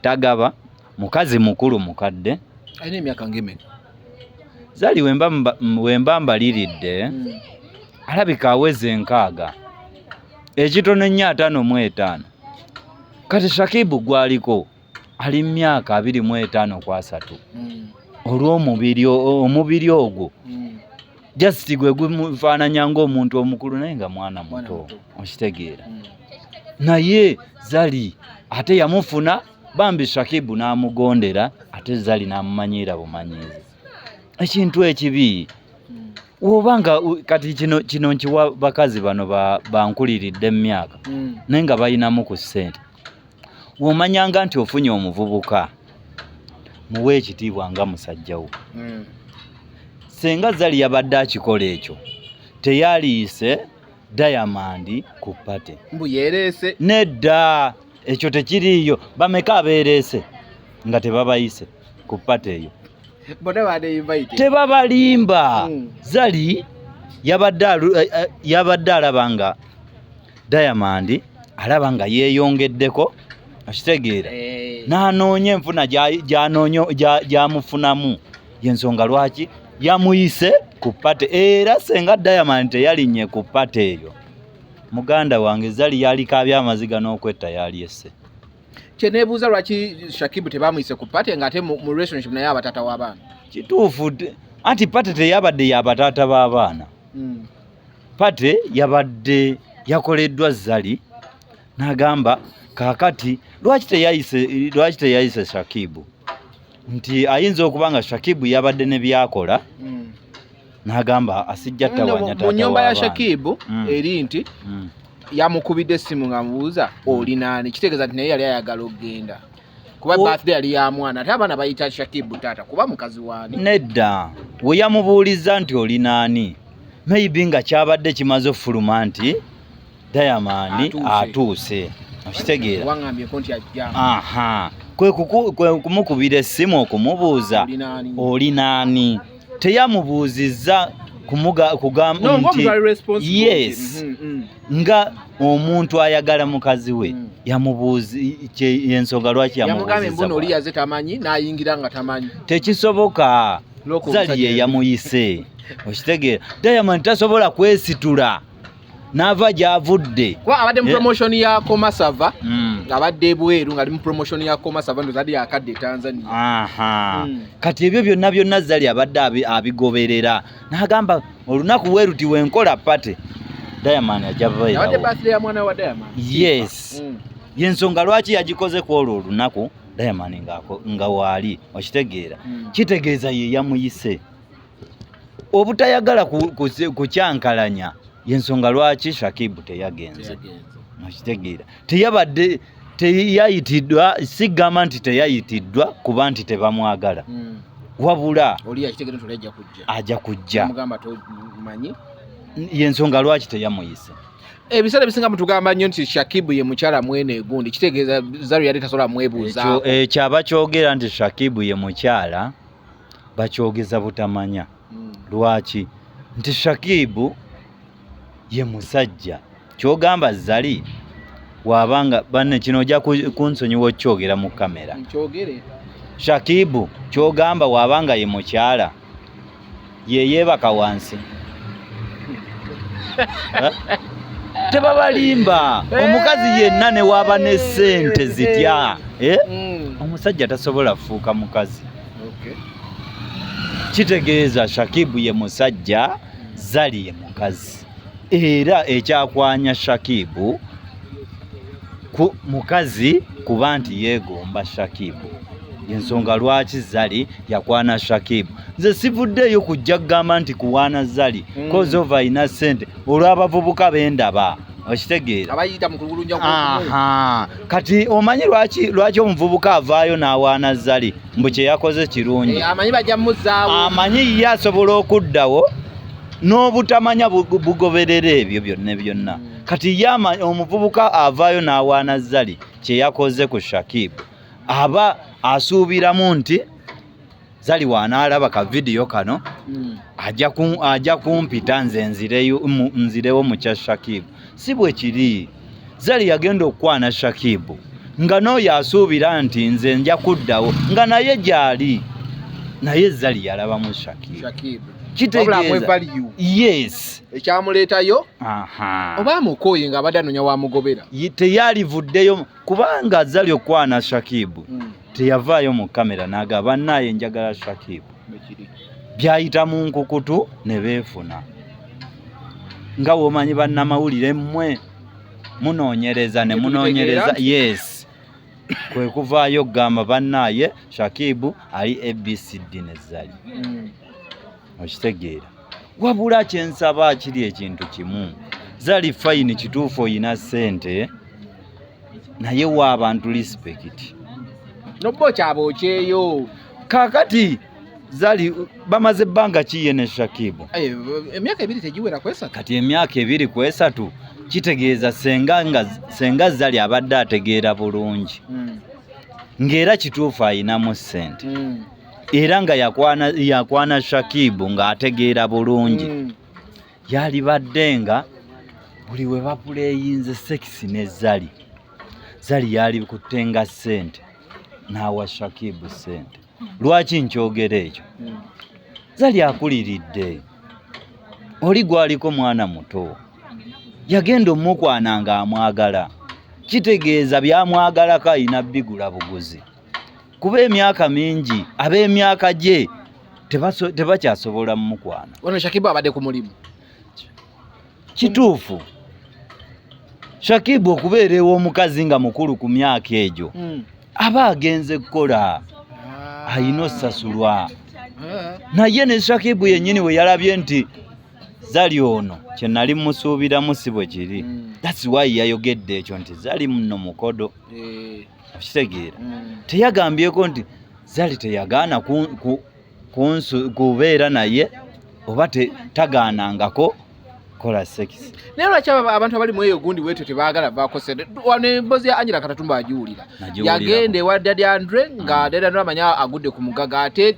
tagaba Mukazi mukulu mukadde. Alina emyaka ng'emeka? Zari wemba mbaliridde hmm. alabika aweze enkaaga ekitono ennyo ataano mu etaano kati shakibu gwaliko ali mu myaka abiri mu etaano ku asatu hmm. olw'omubiri omubiri ogwo hmm. just gwe gufaananya ng'omuntu omukulu naye nga mwana muto okitegeera naye zari ate yamufuna bambi shakibu n'amugondera ate zali n'amumanyiira bumanyiizi ekintu ekibi woba nga kati kino kino nkiwa bakazi bano bankuliridde mu myaka hmm. naye nga balinamu ku ssente womanyanga nti ofunye omuvubuka muwe ekitiibwa nga musajja wo hmm. senga zali yabadde akikola ekyo teyaliise diamond ku pate mbu yereese nedda ekyo tekiriiyo bameka abeereese nga tebabayise ku pate eyo tebabalimba hmm. zali yabadde eh, eh, yabadde alaba nga diamond alaba nga yeeyongeddeko akitegeera eh. n'anoonya enfuna gy'amufunamu yensonga lwaki yamuyise ku pate era senga diamond teyalinye ku pate eyo muganda wange zali yalikabya amaziga n'okwetta yalyesse kyenebuuza lwaki shakibu tebamuyise ku pate nga ate mu relationship naye abatata w'abaana kituufu anti pate teyabadde yabatata b'abaana hmm. pate yabadde yakoleddwa zali nagamba kakati lwaki teyayise lwaki teyayise shakibu nti ayinza okuba nga shakibu yabadde ne byakola mm. nagamba asijja tawanyatamu nyumba ya shakibu mm. eri nti mm. yamukubidde essimu ngamubuuza mm. olinaani kitegeeza nti naye yali ayagala okugenda kuba birthday yali ya mwana ate abaana bayita Shakibu taata kuba mukazi wani nedda we yamubuuliza nti oli naani maybe nga kyabadde kimaze ofuluma nti Diamond atuuse okitegeera kwe kumukubira essimu okumubuuza oli naani teyamubuuzizza kugamba nti yes mm, mm. nga omuntu ayagala mukazi we mm. yamubuuza yensonga lwaki yamubuuzatekisoboka zali ye yamuyise okitegeera diamond tasobola kwesitula n'ava gy'avudde kuba abadde mu promotion ya komasava hmm. ng'abadde ebweru ng'ali mu promotion ya komasava ndoza ali akadde e tanzania hmm. kati ebyo byonna byonna zali abadde abigoberera n'agamba olunaku weruti wenkola pate diamond ajabayees hmm. yensonga lwaki yagikoze ku olwo olunaku diamond nga waali okitegeera kitegeeza ye yamuyise obutayagala kukyankalanya ku, ku yensonga lwaki Shakibu teyagenze mukitegeera teyabadde teyayitiddwa sigamba nti teyayitiddwa kuba nti tebamwagala mm. wabula ajja kujja yensonga lwaki teyamuyise ebiseera ebisinga mutugamba nnyo nti shakibu ye mukyala mwene egundi kitegeeza zaru yali tasobola mwebuuzaako ekyaba kyogera nti shakibu ye mukyala bakyogeza butamanya hmm. lwaki nti shakibu ye musajja kyogamba zali wabanga banne kino ojja kunsonyiwa okyogera mu kamera shakibu kyogamba wabanga ye mukyala yeyeebaka wansi tebabalimba eh. omukazi yenna newaaba ne sente eh. zitya eh? mm. omusajja tasobola kufuuka mukazi kitegeeza shakibu ye musajja zali ye mukazi era ekyakwanya Shakibu ku mukazi kuba nti yeegomba Shakibu ensonga lwaki zali yakwana shakibu nze sivuddeeyo kujja kugamba nti kuwaana zali mm. kozi ova alina sente olw'abavubuka bendaba okitegeera kati omanyi lwaki lwaki omuvubuka avaayo n'awaana zali mbu kyeyakoze kirungi eh, amanyi ye asobola okuddawo n'obutamanya bugoberera ebyo byonna byonna hmm. kati ye omuvubuka avaayo n'awaana zali kye yakoze ku shakib aba asuubiramu nti zali waanaalaba ka vidiyo kano hmm. ajja kumpita nze nzirewo mu kya shakib si bwe kiri zali yagenda okukwana shakibu nga n'oyo asuubira nti nze nja kuddawo nga naye gyali naye zali yalabamu shakibu ekyamuleetayo oba amukooye nga abadde anonya wamugobera teyalivuddeyo kubanga zali okukwana shakibu hmm. teyavaayo mu kamera naga bannaaye njagala shakib byayita mu nkukutu ne beefuna nga womanyi bannamawulire mmwe munoonyereza ne munoonyereza yes kwe kuvaayo okugamba bannaaye shakibu ali abcd ne zali mm. okitegeera wabula kyensaba kiri ekintu kimu zali fayini kituufu oyina ssente naye wa abantu respect nobbo kyaba okyeyo kakati zali bamaze ebbanga ki ye ne Shakibu eh, emyaka ebiri tegiwera kwesatu kati emyaka ebiri kwesatu kitegeeza senga nga senga zali abadde ategeera bulungi mm. ng'era kituufu ayinamu ssente mm. era nga yakwana, yakwana Shakibu ng'ategeera bulungi mm. yalibadde nga buli we bapuleyinze sekisi ne zali zali yalikutte nga ssente n'awa shakibu ssente lwaki nkyogera ekyo hmm. zali akuliridde oli gwaliko mwana muto yagenda omukwana nga amwagala kitegeeza byamwagalako alina bigula buguzi kuba emyaka mingi ab'emyaka gye tebakyasobola mumukwana. Wano Shakibu abadde ku mulimu. Kituufu. Shakibu okubeera ew'omukazi nga mukulu ku myaka egyo hmm. aba agenze kukola ah. alina osasulwa eh. naye ne Shakibu yennyini we yalabye nti zali ono kye nali musuubiramu si bwe kiri hmm. that's why yayogedde ekyo nti zali muno mukodo eh. okitegeera mm. teyagambyeko nti zali teyagaana kubeera naye oba tagaanangako kola sex naye lwaki abantu abali mweyo gundi bwetyo tebagala bakose wano embozi ya angela katatumba agiwulira yagenda ewa dadi andre nga mm. dadi andre amanya agudde ku mugaga ate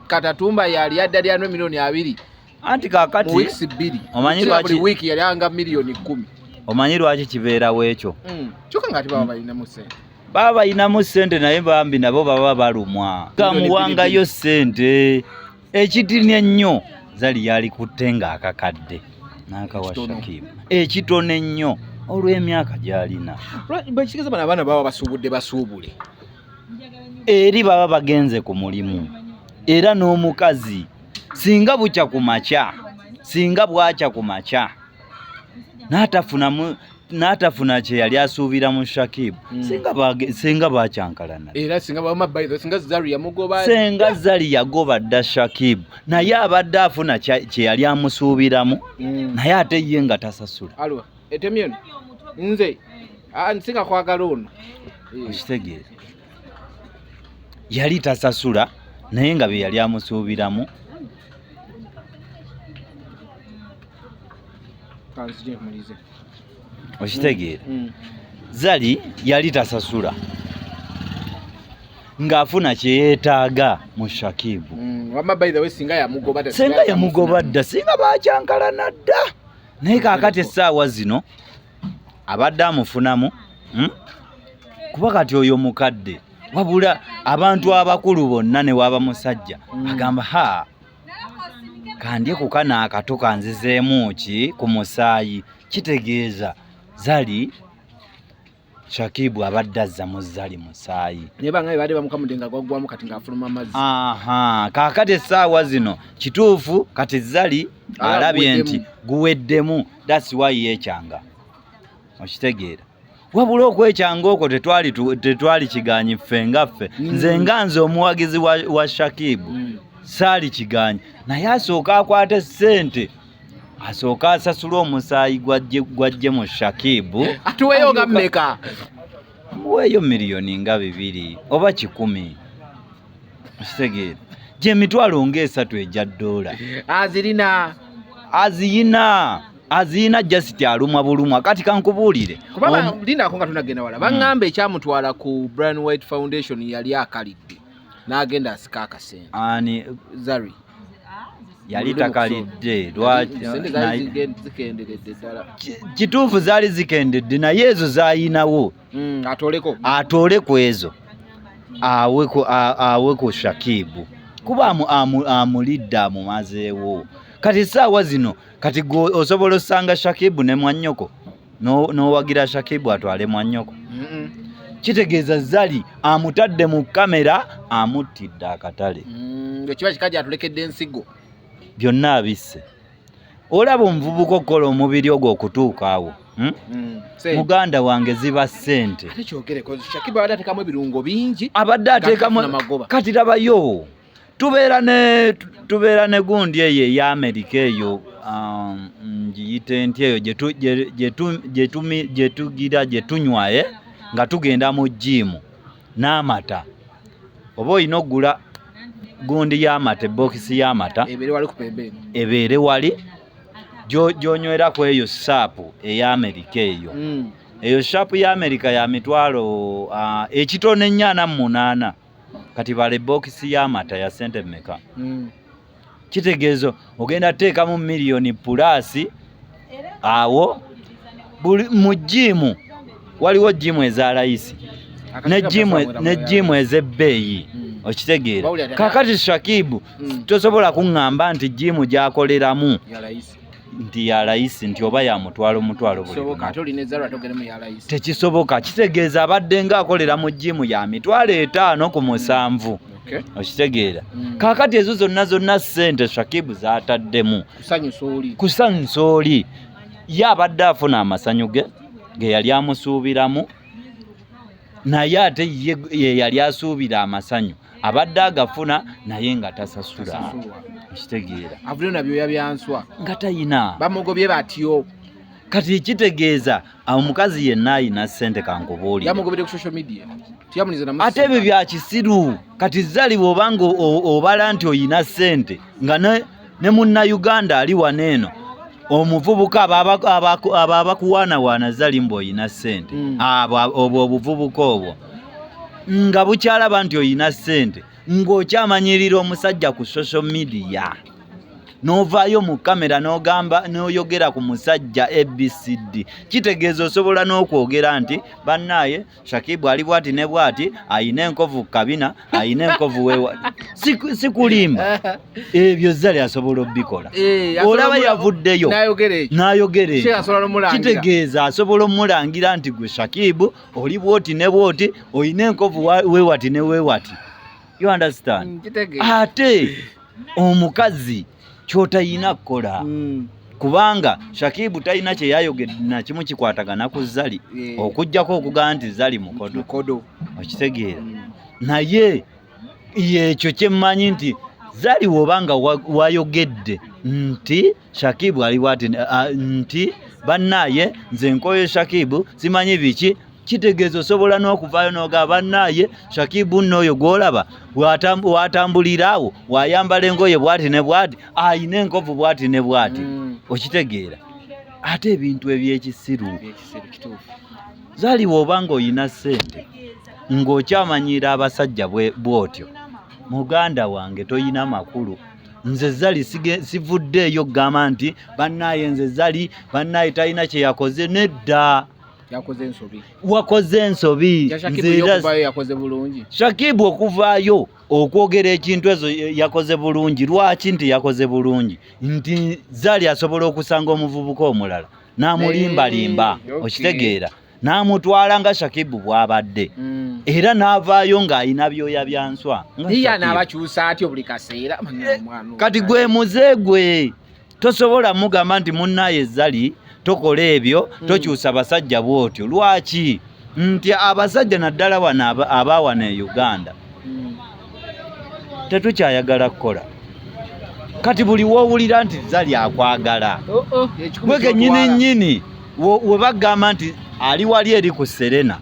katatumba yali ya dadi andre milioni abiri anti kakati mu weeks bbiri omanyi lwaki week yali anga milioni kumi omanyi lwaki kibeerawo ekyo mm. kyoka nga tibaba balinamu sente baba balinamu sente naye bambi nabo baba balumwa kamuwangayo sente ekitini ennyo zali yalikutte ng'akakadde n'akawa shakimu ekitono ennyo olw'emyaka gy'alina bwekitegeeza bano abaana baba basuubudde basuubule eri baba bagenze ku mulimu era n'omukazi singa bukya ku makya singa bwakya ku makya n'atafunamu n'atafuna kye yali asuubira mu shakibu hmm. singa bakyankalana era singa zari yamugoba singa zari yagoba dda shakibu naye abadde afuna kye yali amusuubiramu hmm. naye ate ye nga tasasula etemyeno nze nsinga kwagala ono okitegeera yali tasasula naye nga bye yali amusuubiramu okitegeera mm, mm. zali yali tasasula ng'afuna kyeyeetaaga mu shakibu mm, singa yamugoba dda singa bakyankalana dda naye kaakati essaawa zino abadde amufunamu hmm? kuba kati oyo mukadde wabula abantu abakulu bonna newaaba musajja hmm. agamba ha kandye kuka naakato kanzizeemu ki ku musaayi kitegeeza zali shakibu abadde azza mu zali musaayi kaakati essaawa zino kituufu kati zali alabye nti guweddemu that's why yekyanga okitegeera wabula okwekyanga okwo tetwali tetwali kiganyi ffe nga ffe mm. nze nga nze omuwagizi wa, wa shakibu mm. saali kiganyi naye asooka akwate sente asooka asasula omusaayi gwajje mu shakibu atuweyo nga mmeka muweeyo miliyoni nga bibiri oba kikumi okitegeera gyemitwalo ngaesatu egya doola azirina aziyina aziyina just alumwa bulumwa kati kankubuulire kubanga lindako nga tunagenda wala baŋŋamba hmm. ekyamutwala ku brian white foundation yali akalidde n'agenda asika akasente ani zari yali takalidde lwakikituufu zaali zikendedde naye ezo zayinawo mm, atoleko atole kwezo aweko aweko Shakibu kuba amu, amu, amulidde amumazeewo kati saawa zino kati gwe osobola osanga Shakibu ne mwanyoko n'owagira no Shakibu atwale mwanyoko mm -mm. kitegeeza zali amutadde mu kamera amuttidde akatale mm, ekiba mm, kikaja atulekedde ensigo byonna abisse olaba omuvubuka okukola omubiri ogwo okutuuka awo hmm? Hmm. muganda wange ziba sente abadde ateekamu kati labayo tubeera ne tubeera ne gundi eyo eya amerika eyo um, ngiyite nti eyo gyetugira gyetunywaye eh? nga tugenda mu jiimu n'amata oba olina okugula gundi y'amata ebbookisi y'amata ebeere wali gyonywera ku eyo saapu ey'amerika eyo hmm. eyo saapu y'amerika ya mitwalo ekitono ennya ana mu munaana kati bala ebbookisi y'amata ya sente mmeka hmm. kitegeezo ogenda teekamu miliyoni pulaasi awo buli mu jiimu waliwo jiimu eza layisi ne jiimu ez'ebbeeyi hmm. okitegeera kakati shakibu hmm. tosobola kuŋŋamba nti jiimu gyakoleramu nti ya layisi nti oba yamutwalo mutwalo tekisoboka kitegeeza abadde nga akolera mu jiimu ya mitwalo etaano ku musanvu okitegeera mm. kaakati ezo zonna zonna ssente shakibu zataddemu kusanyusa oli ye abadde afuna amasanyu ge ge yali amusuubiramu naye ate ye yali asuubira amasanyu abadde agafuna naye nga tasasula kitegeera avulyo na byoya byanswa nga tayina bamugobye batyo kati ekitegeeza omukazi yenna ayina sente kankubuulire ate ebyo byakisiru kati zali bwobanga obala nti oyina sente nga ne munna uganda ali wano eno omuvubuka abo abakuwaanawaana zali mbu oyina sente mm. abo obwo obuvubuka obwo nga bukyalaba nti oyina sente ng'okyamanyirira omusajja ku social media n'ovaayo mu kamera n'ogamba n'oyogera ku musajja abcd kitegeeza osobola n'okwogera nti bannaaye Shakibu ali bwati ne bwati ayina enkovu kabina ayina enkovu wewa sikulimba ebyo zali asobola obikola eh, olaba yavuddeyo nayogerekitegeeza asobola omulangira nti gwe Shakibu oli bwoti ne bwoti oyina enkovu wewati ne wewati you understand mm, ate omukazi ah, kyotayina kukola mm. kubanga shakibu talina kyeyayogedde nakimu kikwatagana ku zali yeah. okugjako okugamba nti zali mukodo okitegeera mm. naye yekyo kyemmanyi nti zali wobanga wayogedde nti shakibu ali bwati nti bannaye nze nkoye shakibu simanyi biki kitegeeza osobola n'okuvaayo noga bannaaye shakibu nno oyo gwolaba watambuliraawo wayambala engoye bwati ne bwati ayina enkovu bwati ne bwati mm. okitegeera ate ebintu ebyekisiru zaliwa oba ngaoyina sente ng'okyamanyira abasajja bwotyo muganda wange toyina makulu nze zali sivuddeeyo okugamba nti bannaaye nze zali bannaaye talina kyeyakoze nedda yakoze ensobi wakoze ensobi yakoze bulungi shakibu okuvaayo okwogera ekintu ezo yakoze bulungi lwaki nti yakoze bulungi nti zali asobola okusanga omuvubuka omulala n'amulimbalimba okitegeera n'amutwala nga shakibu bw'abadde mm. era n'avaayo ng'alina byoya bya nswa kati gwe muze gwe tosobola mugamba nti munnaye zali tokola ebyo hmm. tokyusa basajja bwotyo lwaki nti abasajja naddala wano abaawana e uganda hmm. tetukyayagala kukola kati buli wowulira nti zali akwagala oh, oh. gwe kenyini nyini webagamba nti ali wali eri ku serena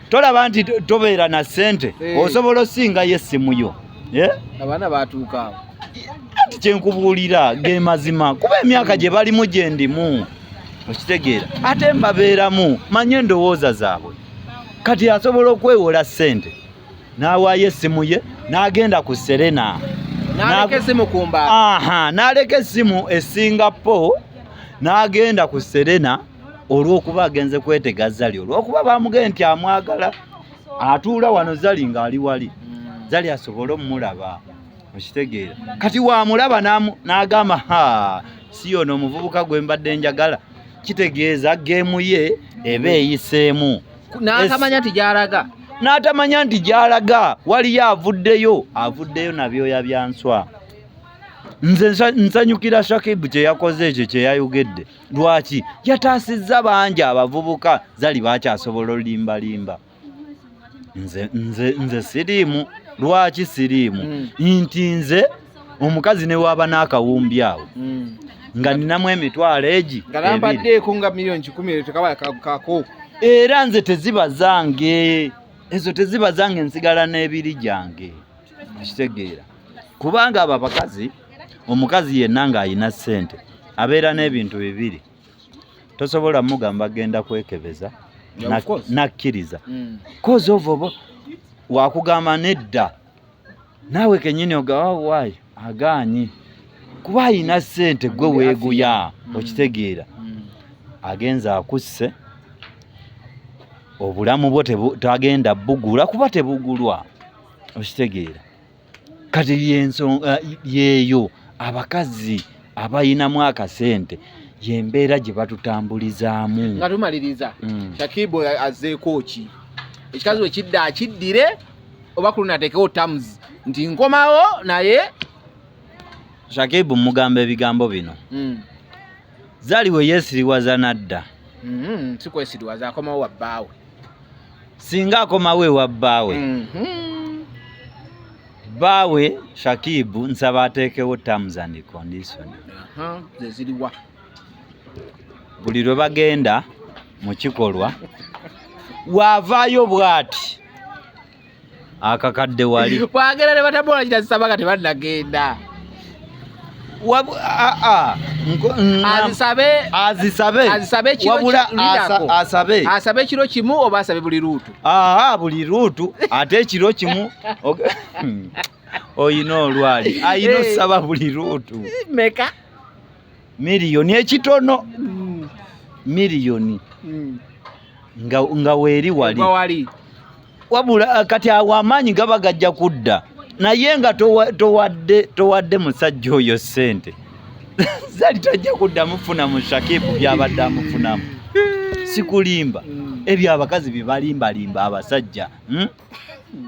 tolaba nti tobeera na sente eh. osobola osingayo essimu yo eh? abaana batuuka anti kyenkubuulira ge mazima kuba emyaka gye balimu gye ndimu okitegeera ate mbabeeramu manye endowooza zaabwe kati asobola okwewola ssente n'awaayo essimu ye n'agenda ku serena n'aleka essimu ku mbaala aha n'aleka essimu e singapore n'agenda ku serena olw'okuba agenze kwetega zali olw'okuba bamugee nti amwagala atuula wano zali ng'ali wali zali asobole omulaba okitegeera kati wamulaba n'agamba ha si yono omuvubuka gwe mbadde njagala kitegeeza geemu ye eba eyiseemu n'atamanya nti gyalaga n'atamanya nti gyalaga waliyo avuddeyo avuddeyo nabyoya bya nswa nze nsanyukira shakibu kye yakoze ekyo kye yayogedde lwaki yataasizza bangi abavubuka zali bakyasobola olimbalimba nze nze nze siriimu lwaki siriimu mm. nti nze omukazi newaaba n'akawumbi awo mm. nga ninamu emitwalo egi ngalampaddeeko nga miliyoni kikumi eyo tekaba kakako era nze teziba zange ezo teziba zange nsigala n'ebiri gyange okitegeera kubanga abo abakazi omukazi yenna ng'alina ssente abeera n'ebintu bibiri tosobola mugamba genda kwekebeza nakkiriza mm. kozi ovo oba wakugamba nedda naawe kenyini ogawawaayo oh, agaanyi kuba alina sente gwe weeguya mm. okitegeera mm. agenze akusse obulamu bwo tagenda bugula kuba tebugulwa okitegeera kati yensonga yeeyo abakazi abayinamu akasente yembeera gye batutambulizaamu nga tumaliriza mm. shakibu azeeko ki ekikazi wekidda akiddire oba kuluna ateekewo tams nti nkomawo naye shakibu mugamba ebigambo bino mm. Zari we yesiriwaza nadda. Mm -hmm. Sikwesiriwaza akomawo wa bbaawe. Singa akomawo ewa bbaawe. Mm -hmm. Bbaawe Shakibu nsaba ateekewo terms and condition. Uh -huh. Zeziriwa. Buli lwe bagenda mu kikolwa waavaayo bwati akakadde wali bwagenda nebatabola kitasaba kati banagenda asabe ekiro kimu oba asabe buli luutu buli luutu ate ekiro kimu oyina olwali ayina osaba buli luutu meka miliyoni ekitono mm. miliyoni mm. nga, nga weeri wali wabula eh, kati awo amaanyi gaba gajja kudda naye nga towadde towadde musajja oyo sente zali tajja kuddamu funa mu shakibu byabadde amufunamu sikulimba mm. ebyo abakazi byebalimbalimba abasajja hmm?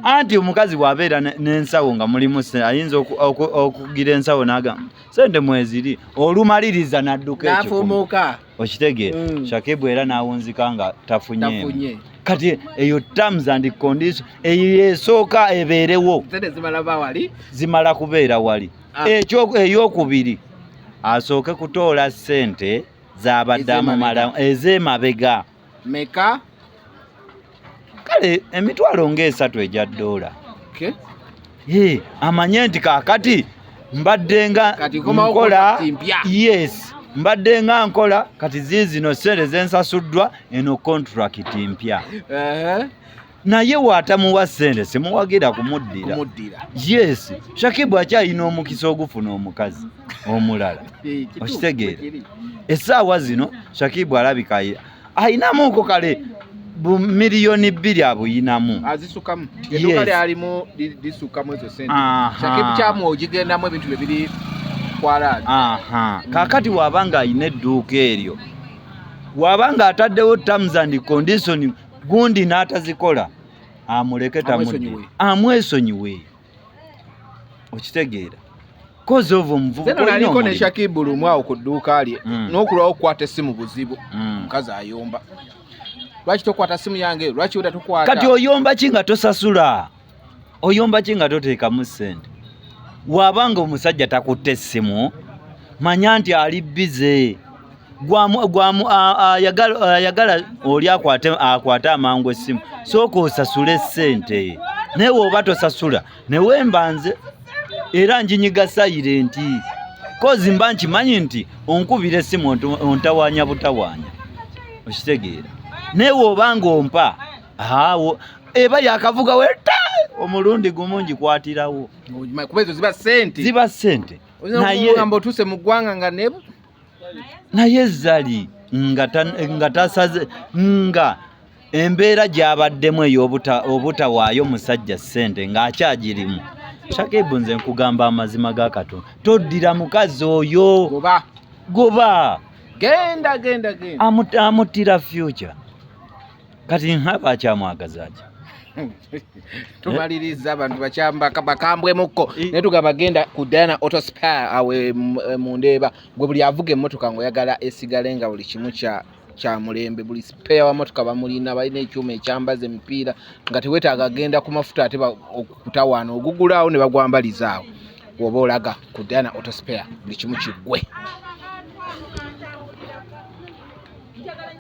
anti omukazi bwabeera n'ensawo nga mulimu ayinza okugira ensawo nagamba sente mweziri olumaliriza nadduka ekyomuka okitegeera mm. shakibu era nawunzika nga tafunye kati eyo terms and condition eyo esooka ebeerewo zimala kubeera wali ah. ekyo eyokubiri asooke kutoola sente zabadde amumala ez'emabega meka kale emitwalo ng'esatu egya ddoola okay. hey, amanye nti kaakati mbadde nga nkola yes mbadde nga nkola kati ziizino sente zensasuddwa eno kontrakiti mpya uh -huh. naye watamuwa sente simuwagira kumuddira yes shakibu akyalina omukisa ogufuna omukazi omulala eh, okitegeera esaawa zino shakibu alabika ayinamuko kale bumiliyoni bbiri abuyinamu azisukamu eduka lyalimu lisukamu ezo sente shakibu kyamu ogigendamu ebintu bye biri kwalaani kakati wabanga alina edduuka eryo wabanga ataddewo terms and condition gundi n'atazikola amuleke tamudde amwesonyiwe okitegeera kozi ovo omuvubukaliko ne shakibu lumu awo ku dduuka lye mm. n'okulwawo okukwata essimu buzibu mm. omukazi ayomba lwaki tokwata simu yange lwaki oda tokwata kati oyomba ki nga tosasula oyomba ki nga toteekamu ssente waaba nga omusajja takutte essimu manya nti ali bize ayagala oli akwate amangu essimu sooka osasule ssente naye woba tosasula newemba nze era njinyiga sayire nti kozi mba nkimanyi nti onkubira essimu ontawanya butawanya okitegeera naye woba nga ompa awo eba yakavuga weta omulundi gumu ngikwatirawo kuba ezo ziba sente ziba sente nayegamba otuse mu ggwanga nga nebo naye zali nga tasaze nga embeera gyabaddemu eyobutawaayo musajja sente ng'akyagirimu shakebu nze nkugamba amazima ga katonda toddira mukazi oyo goba goba genda genda genda amutira future kati nhaba akyamwagaza ki tumaliriza abantu bakyamba bakambwemukko naye tugamba genda ku diana auto spar awe e, mu ndeeba gwe buli avuga emmotoka ngaoyagala esigale nga buli kimu kya kya mulembe buli spare wa motoka bamulina balina ekyuma ekyambaza emipiira nga tewetaaga genda ku mafuta ate okutawaana ogugulaawo ne bagwambalizaawo woba olaga ku diana auto spare buli kimu kiggwe